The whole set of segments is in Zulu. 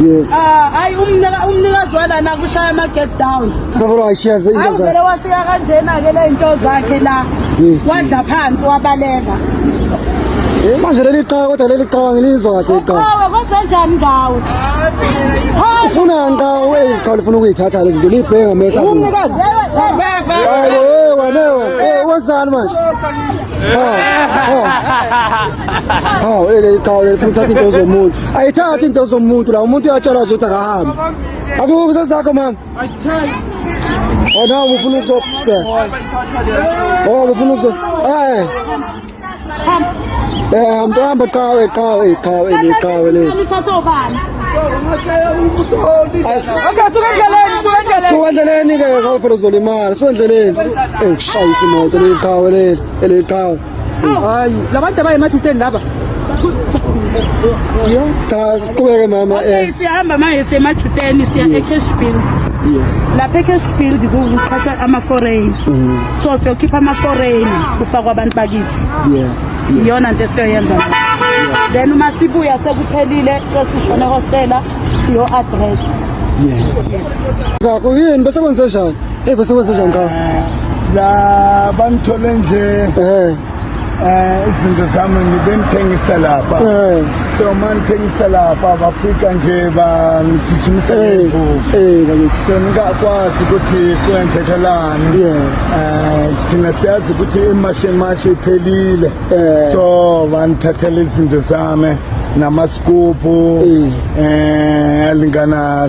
Yes. Ah, hayi umnika umnikazi walana kushaya ama get down. Sabona ayishiya into zakhe. Awuvele washiya kanjena ke le into zakhe la. Wadla phansi wabaleka. Manje leli qhawe kodwa leli qhawe ngilizwa kahle iqhawe. Qhawe kodwa njani ngawe? Ufuna ngawe eli qhawe lifuna ukuyithatha lezi zinto libhenga mehla. Umnikazi. Hayi wewe wewe. Wazani manje? Ha. Ha. hawu ele qhawe lifuna ukuthatha into zomuntu ayithathi into zomuntu la umuntu uyatshelwa nje ukuthi akahambe akukho kusesakho mama ona ufuna ukuzobheka oh ufuna ukuzo eh eh hamba hamba qhawe qhawe qhawe le qhawe le suwendleleni ke ngoba phela uzolimala suwendleleni eyi kushayisa imoto leli qhawe leli eli qhawe hayi labantu abayemathuteni laba cha siqhubeke mama okay eh. siyahamba manje siyemathuteni siya ecash build yes lapha ecash build kuqhathwa ama-foreign mm-hmm. so siyokhipha ama-foreign kufakwa abantu bakithi yeah iyona nto esiyoyenza then uma sibuya sekuphelile sesishone hostela siyo-address yeah zakho yini bese kwenzenjani Hey bese wenze njani ngawo? La bangithole nje. Eh. Eh izinto zami ngibengithengisa lapha. Eh. So man thengisa lapha bafika nje bangigijimisa ngevuvu. Eh bakithi. So ngakwazi ukuthi kwenzekalani. Yeah. Eh thina siyazi ukuthi imashe mashe iphelile. Eh. So bangithathela izinto zami. namascoop eh alingana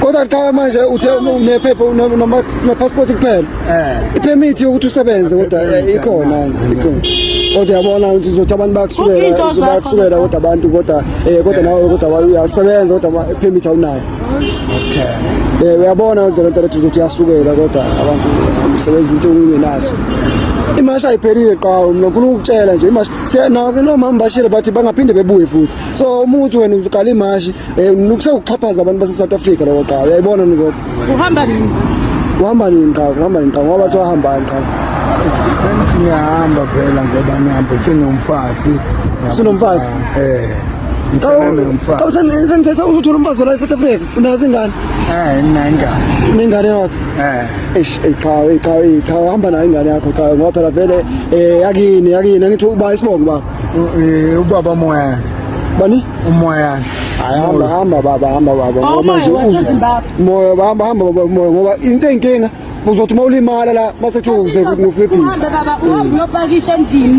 kodwa qala manje uthe unephepha unepassport kuphela eh. ipermit yokuthi usebenze kodwa ikhona ikhona kodwa yabona ukuthi uzothi abantu bakusukela uzobakusukela kodwa abantu kodwa eh kodwa nawe kodwa uyasebenza kodwa ipermit awunayo okay eh uyabona kodwa lento lethi uzothi uyasukela kodwa abantu umsebenzi into ungenaso imasha ayiphelile qhawe mina ngifuna ukutshela nje imasha siyanake nomama bashile bathi bangaphinde bebuye futhi so uma uthi wena uqala imashi um nukuse ukuxhaphaza abantu base-south africa loko qaba uyayibona nikoda uhamba nini uhamba nini qaba uhamba nini qaba ngoba bathiwa ahambani qaba bengithi ngiyahamba vela ngoba ngihambe sinomfazi sinomfazi eh senithetha uzothola umfazi la e-south africa unazo ingane um ningane ningane yakho eish qhawe qhawe qhawe hamba nayo ingane yakho qhawe ngoba phela vele um yakini yakini angithi uba isibongo baba Eh, ubaba umoya bani umoya hamba hamba baba hamba baba ngoba manje umoya hamba hamba baba umoya ngoba into enkinga uzothi uma ulimala la masethu uze kufe phila uhamba baba uhamba uyopakisha endlini